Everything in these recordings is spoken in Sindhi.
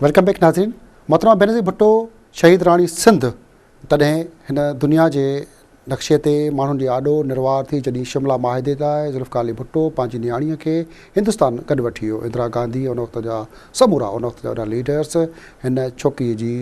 ويلڪم بيڪ ناظرين محترمه بينظير ڀٽو شهيد راڻي سنڌ تڏهن هن دنيا جي نقشي تي ماڻهن جي آڏو نروار ٿي جڏهن شملا معاهدي لاء ذوالفقار علي ڀٽو پنهنجي نياڻيء کي هندستان گڏ وٺي ويو اندرا گانڌي ان وقت جا سمورا ان وقت جا وڏا ليڊرس هن ڇوڪريء جي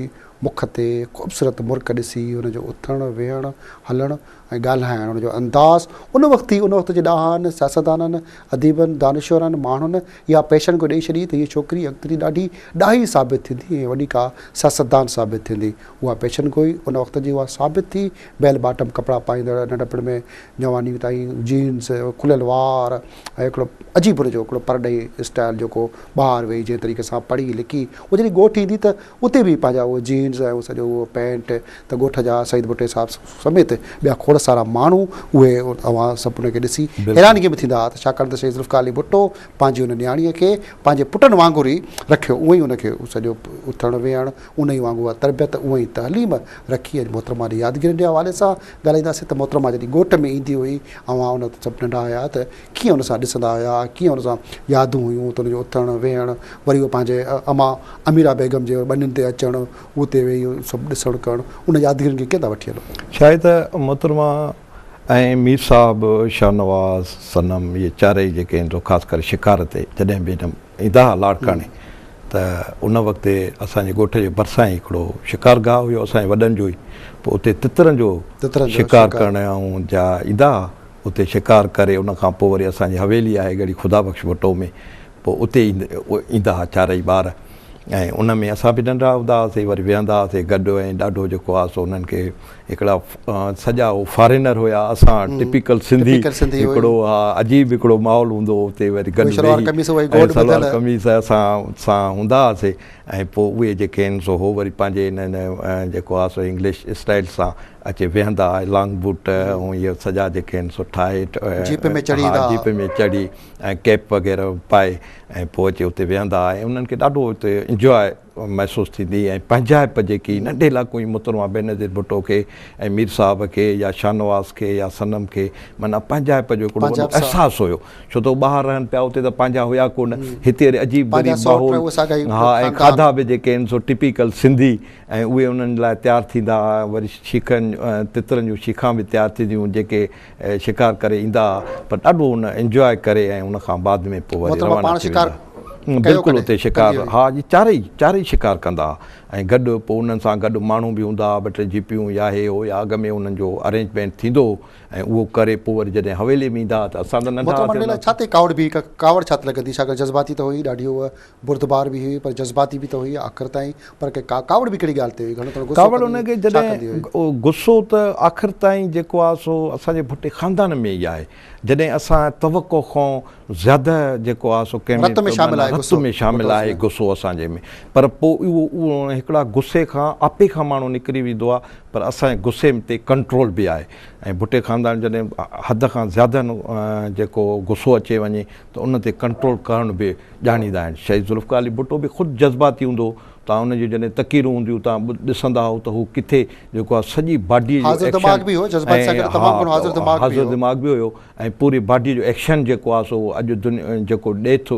مک تي خوبصورت مرڪ ڏسي هن جو اٿڻ ويهڻ هلڻ ۽ ڳالهائڻ، ان جو انداز، ان وقت ئي ان وقت جي ڏاهن، سياستدانن، اديبن، دانشورن، ماڻهن يا پيشن کي ڏئي ڇڏي ته هيء ڇوڪري اڳتي جي ڏاڍي ڏاهي ثابت ٿيندي ۽ وڏي ڪا سياستدان ثابت ٿيندي. اها پيشن گوئي ان وقت جي اها ثابت ٿي، بيل باٽم ڪپڙا پائيندڙ، ننڍپڻ ۾ جواني تائين جينز، کليل وار ۽ هڪڙو عجيب ان جو هڪڙو پرڏيهي اسٽائيل جيڪو ٻاهر ويهي جنهن طريقي سان پڙهي لکي اها جڏهن ڳوٺ ايندي ته اتي به پنهنجا اهي جينز ۽ سڄو اهو پينٽ ته ڳوٺ جا سعيد ڀٽي صاحب سميت ٻيا کوڙ سارا ماڻهو اهي اوهان سڀ ان کي ڏسي حيرانگي ۾ ٿيندا ته ڇاڪاڻ ته شهيد ذوالفقار علي ڀٽو پنهنجي ان نياڻيء کي پنهنجي پٽن وانگر ئي رکيو اونهي ان کي سڄو اٿڻ ويهڻ انهي وانگر اها تربيت انهي تعليم رکي اڄ محترمه جي يادگيرين جي حوالي سان ڳالهائينداسين ته محترمه جڏهن ڳوٺ ۾ ايندي هئي اوهان ان سڀ ننڍا هيا ته ڪيئن ان سان ڏسندا هيا، ڪيئن ان سان يادون هيون ته ان جو اٿڻ، ويهڻ، وري هو پنهنجي اما اميره بيگم جي ٻنين تي اچڻ، اتي ويهي سڀ ڏسڻ ڪرڻ، ان يادگيرين کي ڪيئن ٿا وٺي هلو. شايد ته محترمه ۽ مير صاحب، شاهنواز، صنم اهي چارئي جيڪي آهن سو خاص ڪري شڪار تي جڏهن به هيڏانهن ايندا هئا لاڙڪاڻي ته ان وقت اسان جي ڳوٺ جي ڀرسان ئي هڪڙو شڪار گاهه هيو اسان جي وڏن جو ئي پوء اتي تترن جو شڪار ڪرڻ ۽ جا ايندا هئا اتي شڪار ڪري ان کان پوء وري اسان جي حويلي آهي ڳڙهي خدا بخش ڀٽو ۾ پوء اتي ايندا ها چارئي ٻار ۽ ان ۾ اسان به ننڍڙا هوندا هئاسي وري ويهندا هئاسي گڏ ۽ ڏاڍو جيڪو آهي سو انهن کي هڪڙا سڄا هو فارينر هيا اسان ٽپيڪل سنڌي هڪڙو ها عجيب هڪڙو ماحول هوندو هو اتي وري گڏ ويهي سلوار قميص اسان سان هوندا هئاسي ۽ پوء اهي جيڪي آهن سو هو وري پنهنجي ان جيڪو آهي سو انگلش اسٽائيل سان اچي ويهندا، لانگ بوٽ ۽ اهي سڄا جيڪي آهن سو ٺاهي، جيپ ۾ چڙهي ايندا. جيپ ۾ چڙهي ۽ ڪيپ وغيره پائي ۽ پوء اچي اتي ويهندا ۽ انهن کي ڏاڍو اتي انجواء محسوس ٿيندي هئي ۽ پنهنجائپ جيڪي ننڍي لاڪو ۽ محترمه بينظير ڀٽو کي ۽ مير صاحب کي يا شاهنواز کي يا صنم کي معنيٰ پنهنجائپ جو هڪڙو وڏو احساس هيو ڇو ته هو ٻاهر رهن پيا اتي ته پنهنجا هيا ڪونه هتي وري عجيب غريب ماحول ها ۽ کاڌا به جيڪي آهن سو ٽپيڪل سنڌي ۽ اهي انهن لاء تيار ٿيندا ها، وري شيخن تترن جون شيخان به تيار ٿينديون جيڪي شڪار ڪري ايندا ها پر ڏاڍو ان انجواء ڪري ۽ ان کان بعد ۾ پوء وري روانا ٿي ويندا ها بلڪل اتي شڪار ها جي چارئي چارئي شڪار ڪندا ها ۽ گڏ پوء انهن سان گڏ ماڻهو به هوندا ها ٻه ٽي جيپيون يا هي هو يا اڳ ۾ انهن جو ارينجمينٽ ٿيندو هو ۽ اهو ڪري پوء وري جڏهن حويلي ۾ ايندا ها ته اسان ته ننڍا هئاسين ان وقت. بردبار به هئي پر جذباتي به ته هئي آخر تائين پر ڪي ڪا ڪاوڙ به ڪهڙي ڳالهه تي هئي گهڻو ٿورو غصو ڪاوڙ ان کي جڏهن غصو ته آخر تائين جيڪو آهي سو اسان جي ڀٽي خاندان ۾ ئي آهي جڏهن اسان توقع کون زياده جيڪو آهي سو ڪنهن رت ۾ شامل آهي غصو رت ۾ شامل آهي غصو اسان جي ۾ پر پوء اهو اهو هڪڙا غصي کان آپي کان ماڻهو نڪري ويندو آهي پر اسان جي غصي تي ڪنٽرول به آهي ۽ ڀٽي خاندان جڏهن حد کان زياده جيڪو غصو اچي وڃي ته ان تي ڪنٽرول ڪرڻ به ڄاڻيندا آهن. شهيد ذوالفقار علي ڀٽو به خود جذباتي هوندو هو. توهان ان جون جڏهن تقريرون هونديون توهان ڏسندا هئو ته هو ڪٿي جيڪو آهي سڄي باڊيء جو حاضر ايڪشن دماغ به هو، جذباتي سان ۽ گڏ تمام گهڻو حاضر دماغ به حاضر هو. دماغ به هيو ۽ پوري باڊيء جو ايڪشن جيڪو آهي سو اڄ دن جيڪو ڏئي ٿو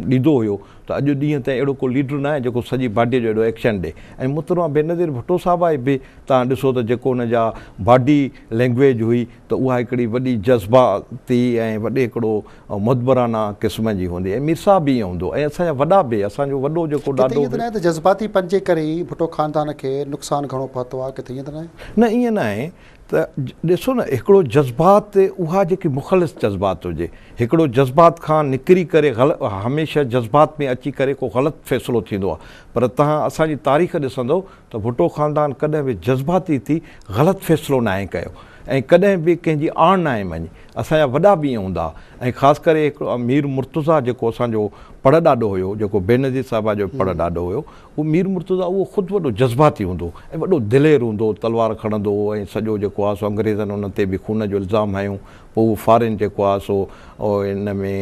ڏيندو هيو ته اڄ ڏينهن تائين اهڙو ڪو ليڊر ناهي جيڪو سڄي باڊيء جو اهڙو ايڪشن ڏئي ۽ محترمه بينظير ڀٽو صاحبه به توهان ڏسو ته جيڪو ان جا باڊي لينگويج هئي ته اها هڪڙي وڏي جذباتي ۽ وڏي هڪڙو ۽ مدبرانه قسم جي هوندي ۽ مير صاحب به ائين هوندو ۽ اسان جا وڏا به اسان جو وڏو جيڪو ڏاڏو به. ڪٿي ائين ته ناهي ته جذباتي پن جي ڪري ئي ڀٽو خاندان کي نقصان گهڻو پهتو آهي ڪٿي ائين ته ناهي؟ نه ائين ناهي ته ڏسو نه هڪڙو جذبات اها جيڪي مخلص جذبات هجي هڪڙو جذبات کان نڪري ڪري هميشه جذبات ۾ اچي ڪري ڪو غلط فيصلو ٿيندو آهي پر تهان اسان جي تاريخ ڏسندو ته ڀٽو خاندان ڪڏهن به جذباتي ٿي غلط فيصلو ناهي ڪيو ۽ ڪڏهن به ڪنهن جي آڻ ناهي مڃي اسان جا وڏا به ائين هوندا ۽ خاص ڪري هڪڙو مير مرتضيٰ جيڪو اسان جو پڙ ڏاڏو هيو جيڪو بينظير صاحبه جو پڙ ڏاڏو هيو اهو مير مرتضيٰ اهو خود وڏو جذباتي هوندو ۽ وڏو دلير هوندو تلوار کڻندو هو ۽ سڄو جيڪو آهي سو انگريزن ان تي به خون جو الزام هنيو پوء اهو فارين جيڪو آهي سو ان ۾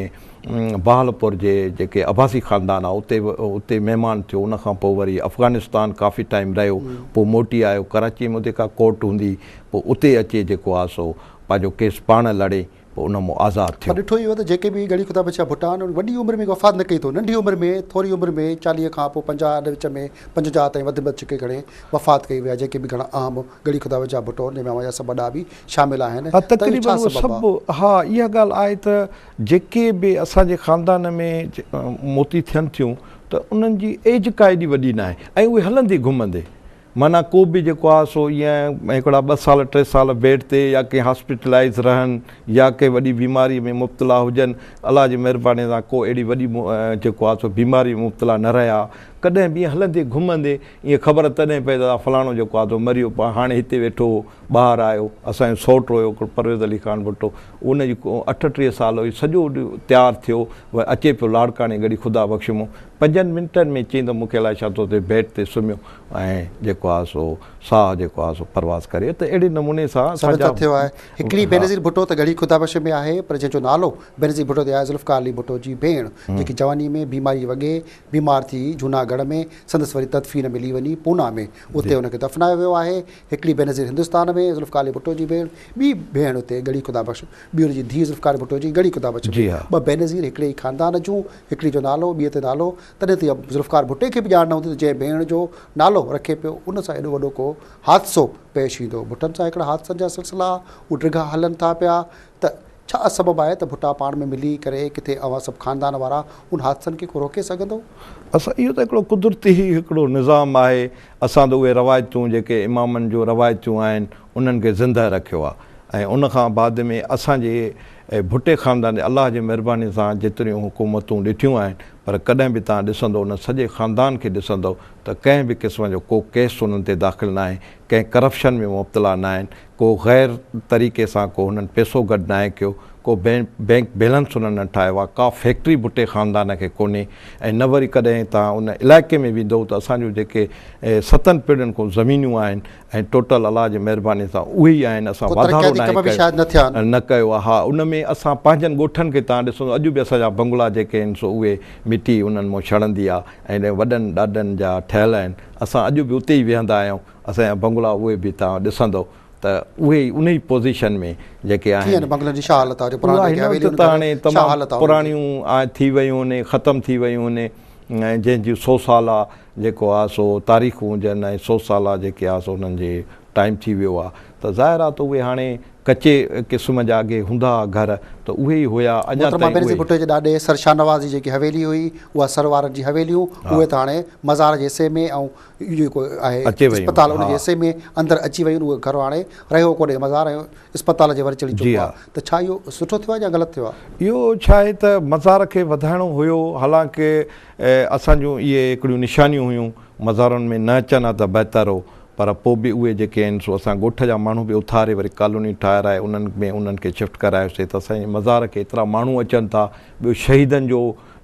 بهاولپور جي جيڪي عباسي خاندان آهي اتي اتي مهمان ٿيو ان کان پوء وري افغانستان ڪافي ٽائيم رهيو پوء موٽي آيو ڪراچي ۾ اتي ڪا ڪورٽ هوندي پوء اتي اچي جيڪو آهي سو پنهنجو ڪيس پاڻ لڙي پوء ان مون آزاد ٿيو. پر ڏٺو اهو ته جيڪي به گهڙي خدا بخشيا ڀٽا آهن ان وڏي عمر ۾ وفات نه ڪئي اٿو ننڍي عمر ۾ ٿوري عمر ۾ چاليهه کان پوء پنجاهه اڏ وچ ۾ پنجونجاهه تائين وڌ ۾ وڌ ڇڪي گهڻي وفات ڪئي ويا جيڪي به گهڻا اهم گهڙي خدا بخشيا ڀٽو جنهن ۾ اوهان جا سڀ وڏا به شامل آهن ها ته اهو ڇا سبب آهي؟ ها اها ڳالهه آهي ته جيڪي به اسان جي خاندان ۾ موتي ٿين ٿيون ته انهن جي ايج ڪا ايڏي وڏي ناهي ۽ اهي هلندي گهمندي معنيٰ ڪو به جيڪو آهي سو ايئن هڪڙا ٻه سال ٽي سال بيڊ تي يا ڪنهن هاسپيٽلائيز رهن يا ڪنهن وڏي بيماري ۾ مبتلا هجن الله جي مهرباني سان ڪو اهڙي وڏي جيڪو آهي سو بيماري ۾ مبتلا نه رهيا ڪڏهن به ايئن هلندي گهمندي ايئن خبر تڏهن پئي ته فلاڻو جيڪو آهي سو مريو هاڻي هتي ويٺو هو ٻاهر آيو اسان جو سئوٽ هيو هڪڙو پرويز علي خان ڀٽو ان جي اٺٽيهه سال هئي سڄو تيار ٿيو اچي پيو لاڙڪاڻي گهڙي خدا بخش مون پنجن منٽن ۾ چيائين ته مون کي الائي ڇا ٿو ٿئي بيڊ تي سمهيو ۽ جيڪو آهي سو ساهه جيڪو آهي سو پرواز ڪري ته اهڙي نموني سان سندن ساڳيا تٿيو آهي. هڪڙي بينظير ڀٽو ته ڳڙهي خدا بخش ۾ آهي پر جنهن جو نالو بينظير ڀٽو تي آهي ذوالفقار علي ڀٽو جي ڀيڻ جيڪي جواني ۾ بيماري وڳي بيمار ٿي جهوناڳڙهه ۾ سندس وري تدفين ملي وڃي پونا ۾ اتي ان کي دفنايو ويو آهي هڪڙي بينظير هندستان ۾ ذوالفقار علي ڀٽو جي ڀيڻ ٻي ڀيڻ اتي ڳڙهي خدا بخش ٻي ان جي ڌيء ذوالفقار ڀٽو جي ڳڙهي خدا بخش ۾ ٻه بينظير هڪڙي ئي خاندان جون هڪڙي جو نالو ٻي تي نالو تڏهن ته اها ذوالفقار ڀٽي کي به ڄاڻ نه هوندي ته جنهن ڀيڻ جو نالو رکي پيو ان سان ايڏو وڏو ڪو حادثو پيش ايندو. ڀٽن سان هڪڙا حادثن جا سلسلا اهو ڊگها هلن ٿا پيا ته ڇا سبب آهي ته ڀٽا پاڻ ۾ ملي ڪري ڪٿي اوهان سڀ خاندان وارا ان حادثن کي ڪو روڪي سگهندو؟ اسان اهو ته هڪڙو قدرتي هڪڙو نظام آهي اسان ته اهي روايتون جيڪي امامن جون روايتون آهن انهن کي زندهه رکيو آهي ۽ ان کان بعد ۾ اسان جي ڀٽي خاندان جي الله جي مهرباني سان جيتريون حڪومتون ڏٺيون آهن پر ڪڏهن به توهان ڏسندو ان سڄي خاندان کي ڏسندو ته ڪنهن به قسم جو ڪو ڪيس انهن تي داخل ناهي ڪنهن ڪرپشن ۾ مبتلا ناهن ڪو غير طريقي سان ڪو هنن پيسو گڏ ناهي ڪيو ڪو بينڪ بيلنس هنن نه ٺاهيو آهي ڪا فيڪٽري ڀٽي خاندان کي ڪونهي ۽ نه وري ڪڏهن توهان ان علائقي ۾ ويندو ته اسان جون جيڪي ستن پيڙهين کان زمينون آهن ۽ ٽوٽل الله جي مهرباني سان اهي ئي آهن اسان واڌارو ناهي ڪيو نه ڪيو آ ها ان ۾ اسان پنهنجن ڳوٺن کي تان ڏسو اڄ به اسان جا بنگلا جيڪي آهن سو اهي مٽي انهن مون ڇڻندي آ ۽ وڏن ڏاڏن جا ٺهيل آهن اسان اڄ به اتي ئي ويهندا آهيون اسان جا بنگلا اهي به تان ڏسندو ته اهي ئي انهي پوزيشن ۾ جيڪي آهن اها هن وقت ته هاڻي تمام پراڻيون ٿي ويون آهن ختم ٿي ويون آهن ۽ جنهن جي سو سال آ جيڪو آ سو تاريخون هجن ۽ سو سالا جيڪي آ سو انهن جي ٽائيم ٿي ويو آ ته ظاهر آ ته اهي هاڻي ڪچي قسم جا اڳي هوندا ها گهر ته اهي ئي هيا اڃا محترمه تائين بينظير اهي. ڀٽو جي ڏاڏي سر شاهنواز جي جيڪي حويلي هئي اها سر وارن جي حويليون ها. اهي ته هاڻي مزار جي حصي ۾ ۽ اهو جيڪو آهي اچي ويون اسپتال ان ها. جي حصي ۾ اندر اچي ويون اهو گهر هاڻي رهيو ڪونهي مزار ۽ اسپتال جي ور چڙهي جي چڪو آ ها. ته ڇا اهو سٺو ٿيو آ يا غلط ٿيو آ؟ اهو ڇا آهي ته مزار کي وڌائڻو هيو حالانڪه اسان جون اهي هڪڙيون نشانيون هيون، مزارن ۾ نه اچن ها ته بهتر هو، پر پوء به اهي جيڪي آهن سو اسان ڳوٺ جا ماڻهو به اٿاري وري ڪالوني ٺاهرائي انهن ۾ انهن کي شفٽ ڪرايوسين ته اسان جي مزار کي ايترا ماڻهو اچن ٿا، ٻيو شهيدن جو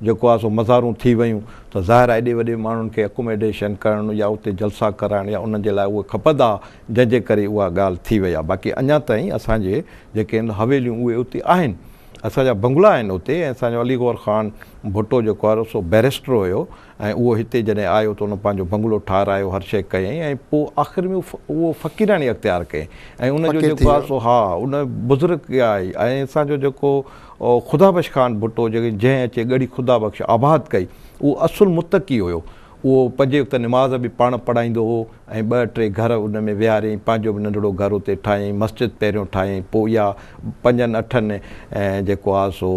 جيڪو آهي سو مزارون ٿي ويون ته ظاهر آهي ايڏي وڏي ماڻهن کي اڪوميڊيشن ڪرڻ يا اتي جلسا ڪرائڻ يا انهن جي لاء اهي کپندا جنهن جي ڪري اها ڳالهه ٿي وئي آهي باقي اڃا تائين اسان جي جيڪي آهن حويليون اهي اتي آهن اسان جا بنگلا آهن اتي ۽ اسان جو علي گور خان ڀٽو جيڪو آهي سو بئريسٽر هيو ۽ اهو هتي جڏهن آيو ته ان پنهنجو بنگلو ٺاهرايو هر شيء ڪيائين ۽ پوء آخر ۾ اهو فقيراڻي اختيار ڪيائين ۽ ان جو جيڪو آهي سو ها ان بزرگ ڪيا آهي ۽ اسان جو جيڪو خدا بخش خان ڀٽو جنهن اچي ڳڙهي خدا بخش آباد ڪئي اهو اصل متقي هيو اهو پنجي وقت نماز به پاڻ پڙهائيندو هو ۽ ٻه ٽي گهر ان ۾ ويهاريائين، پنهنجو به ننڍڙو گهر اتي ٺاهيائين، مسجد پهريون ٺاهيائين، پوء اها پنجن اٺن جيڪو آهي سو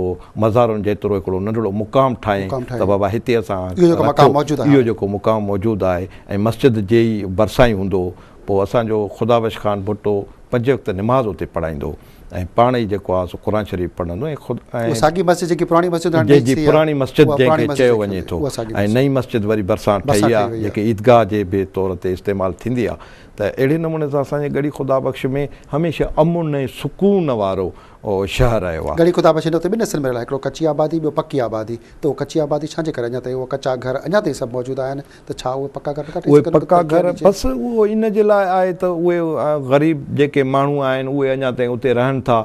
مزارن جيترو هڪڙو ننڍڙو مقام ٺاهيائين ته بابا هتي اسان رکو، اهو جيڪو مقام موجود آهي ۽ مسجد جي ئي ڀرسان ئي هوندو هو، پوء اسان جو خدا بخش خان ڀٽو پنجي وقت نماز اتي پڙهائيندو هو. ۽ پاڻ ئي جيڪو آ سو قرآن شريف پڙهندو ۽ خود اها ساڳي مسجد جيڪي پراڻي مسجد هاڻي جي جي ٺهي آ پراڻي مسجد اها جنهن پراڻي کي مسجد چيو جيڪي وڃي ٿو اها ساڳي ۽ مسجد نئين مسجد وري ڀرسان ٺهي ڀرسان آ ٺهي وئي آ جيڪي عيدگاهه جي به طور تي استعمال ٿيندي آ ته اهڙي نموني سان اسان جي ڳڙهي خدا بخش ۾ هميشه امن ۽ سڪون وارو شهر رهيو آ. ڳڙهي خدا بخش هن وقت ٻن حصن ۾ رهيل آ هڪڙو ڪچي آبادي ٻيو پڪي آبادي ته اهو ڪچي آبادي ڇا جي ڪري اڃا تائين اهو ڪچا گهر اڃا تائين سڀ موجود آهن ته ڇا اهي پڪا گهر نه ٿا ٺهي سگهن؟ اهي پڪا گهر بس اهو ان جي لاء آهي ته اهي غريب جيڪي ماڻهو آهن اهي اڃا تائين اتي رهن ٿا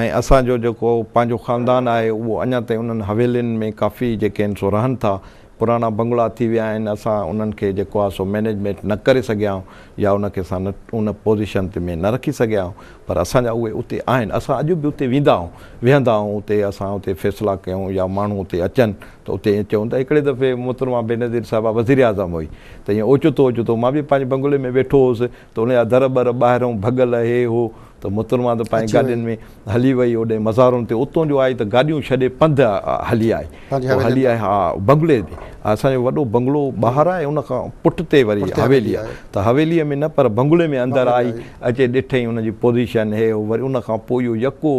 ۽ اسان جو جيڪو پنهنجو خاندان آهي اهو اڃا تائين انهن حويلين ۾ ڪافي جيڪي آهن سو رهن ٿا پراڻا بنگلا ٿي ويا آهن اسان انهن کي جيڪو آهي سو مينيجمينٽ نه ڪري سگهيا آهيون يا ان کي اسان ان پوزيشن تي ۾ نه رکي سگهيا آهيون پر اسان جا اهي اتي آهن، اسان اڄ به اتي ويندا آهيون، ويهندا آهيون اتي، اسان اتي فيصلا ڪيون يا ماڻهو اتي اچن ته اتي ائين چئون ته هڪڙي دفعي محترمه بينظير صاحبه وزير اعظم هئي ته ائين اوچتو اوچتو مان به پنهنجي بنگلي ۾ ويٺو هوس ته ان جا در ٻر ٻاهرئون ڀڳل هي هو ته محترمه ته پنهنجي گاڏين ۾ هلي وئي اوڏانهن مزارن تي، اتون جو آئي ته گاڏيون ڇڏي پنڌ هلي آئي. پنهنجي حويلين ۾. ها بنگلي ۾ اسان جو وڏو بنگلو ٻاهر آهي ان کان پٺتي وري حويلي آهي ته حويلي ۾ نه پر بنگلي ۾ اندر آئي اچي ڏٺئي ان جي پوزيشن هي هو وري ان کان پوء اهو يڪو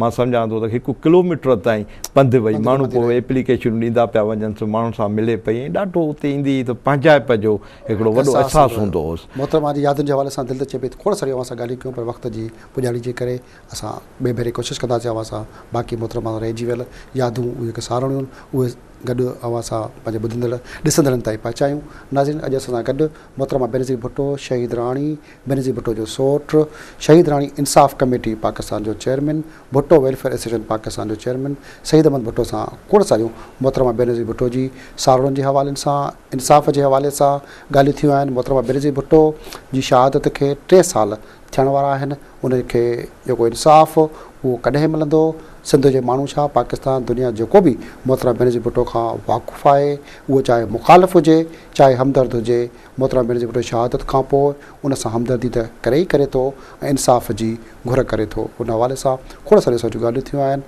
مان سمجهان ٿو ته هڪ ڪلوميٽر تائين پنڌ وئي ماڻهو پوء ايپليڪيشنون ڏيندا پيا وڃنس ماڻهن سان ملي پئي ۽ ڏاڍو اتي ايندي هئي ته پنهنجائپ جو هڪڙو وڏو احساس هوندو هوس. محترمه جي يادن جي حوالي سان دل ٿو چئي پئي ته کوڙ ساريون اوهان سان ڳالهيون ڪيون پر وقت جي پڄاڻي جي ڪري اسان ٻئي ڀيري ڪوشش ڪندا سين اوهان سان باقي محترمه سان رهجي ويل يادون اهي هڪ ساروڻيون آهن اهي گڏ اوهان سان پنهنجي ٻڌندڙ ڏسندڙن تائين پهچايون ناظرين اڄ اسان سان گڏ محترمه بينظير ڀٽو شهيد راڻي بينظير ڀٽو جو سوٽ شهيد راڻي انصاف ڪميٽي پاڪستان جو chairman Bhutto welfare association Pakistan جو چيئرمين سعيد احمد ڀٽو سان کوڙ ساريون محترمه بينظير ڀٽو جي ساروڻين جي حوالي سان انصاف جي حوالي سان ڳالهيون ٿيون آهن محترمه بينظير ڀٽو جي شهادت کي ٽي سال ٿيڻ وارا آهن ان کي جيڪو انصاف اهو ڪڏهن ملندو سنڌ جي ماڻهو ڇا پاڪستان دنيا جيڪو به محترمه بينظير ڀٽو کان واقف آهي اهو چاهي مخالف هجي چاهي همدرد هجي محترمه بينظير ڀٽو شهادت کان پوء ان سان همدردي ته ڪري ئي ڪري ٿو ۽ انصاف جي گهر ڪري ٿو ان حوالي سان کوڙ ساريون سوچ ڳالهيون ٿيون آهن.